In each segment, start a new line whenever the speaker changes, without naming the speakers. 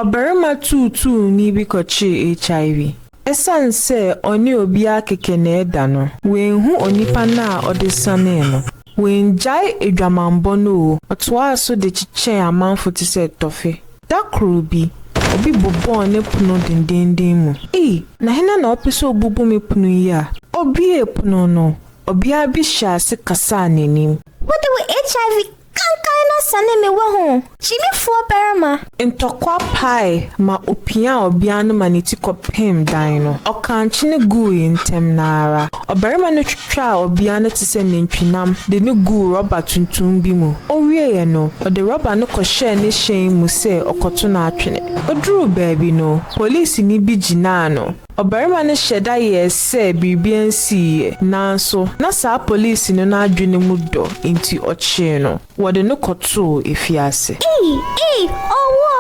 Ɔbarima tuutuuni bi kɔkyee HIV. Esiane sɛ ɔne obiara kɛkɛ na ɛda no, wanhu onipa no a ɔde sianee no. Wangyae adwamammɔ no oo, ɔtoaa so de kyekyɛɛ amanfo te sɛ tɔfe. Da koro bi, obi bobɔɔ ne pono denneennen mu. Ei, na hena na ɔpɛ sɛ obubu me pono yi a? Obuee pono no, ɔbea bi hyɛɛ ase kasaa n'anim. Wode wo
HIV Kankan na sane me wahu. Gyimifoɔ barima. Ntɔkwa
pae ma ɔpiaa ɔbea no ma ne ti kɔpem dan no. Ɔkaa nkyene guui ntɛm no ara. Ɔbarima no twitwaa ɔbea no te sɛ nantwinam de no guu rɔba tuntum bi mu. Ɔwieeɛ no, ɔde rɔba no kɔhyɛɛ ne hyɛn mu sɛ ɔkɔto no atwene. Ɔduruu baabi no, polisini bi gyinaa no. Ɔbarima no hyɛ da yɛɛ sɛ biribi ansiiɛ, nanso na saa polisini no adwene mu dɔ nti ɔkyee no. Wɔde no kɔtoo afiase. Ei! Ei! Owuo!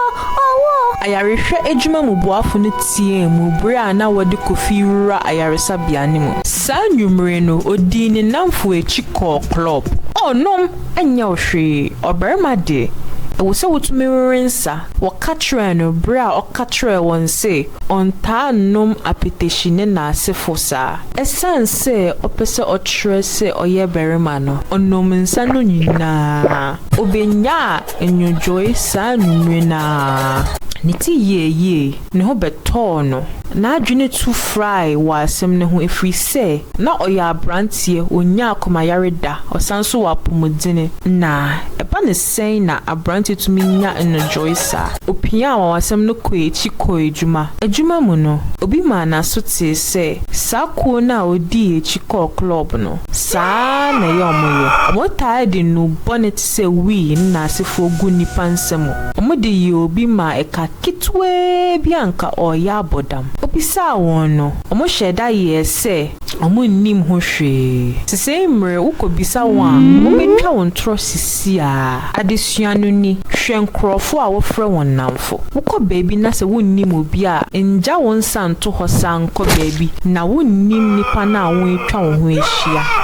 Owuo! Ayarehwɛ adwuma mu boafo no teɛɛ mu bere a na wɔde Kofi rewura ayaresabea no mu. Saa anwummere no, ɔdii ne nnamfo akyi kɔɔ klɔb. O, nom, ɛnyɛ wo hwee. Ɔbarima de, ɛwɔ sɛ wotumi wewe nsa, wɔka kyerɛɛ no bere a ɔka kyerɛɛ wɔn se ɔntaa nnom apetahyi ne n'asefo saa. Esiane sɛ ɔpɛ sɛ ɔkyerɛ sɛ ɔyɛ barima no, ɔnom nsa no nyinaa. Obenyaa nnwodwoe saa anwummere no ara. Ne ti yɛɛ yie. Ne ho bɛtɔɔ no. N'adwene tu frae wɔ asɛm no ho ɛfiri sɛ na ɔyɛ aberanteɛ, ɔnnyaa akomayare da, ɔsan nso wɔ apɔmuden. Na ɛba no Sɛn na aberante tumi nya nnodwoe saa? Opiaa anwanwasɛm no kɔɔ akyi kɔɔ adwuma. Adwuma mu no, obi maa n'aso tee sɛ saa kuw no a odii akyi kɔɔ klɔb no, saa ara na ɛyɛ wɔyɛ. Wɔtaa de nnuru bɔne te sɛ wii ne nnaasefo gu nnipa nsa mu. Wɔde yii obi maa ɛka ketewaa bi a anka ɔreyɛ abɔdam. Obisaa wɔn no, wɔhyɛɛ da yɛe sɛ wɔnnim ho hwee. Sesei mmerɛ wokɔbisa wɔn a, wɔbɛtwa wo ntorɔ sisiaa. Adesua no ni, Hwɛ nkorɔfoɔ a wofrɛ wɔn nnamfo. Wokɔ baabi na sɛ wonnim obi a, ngya wo nsa nto hɔ saa nkɔ baabi na wonnim nnipa no a woatwa wo ho ahyia.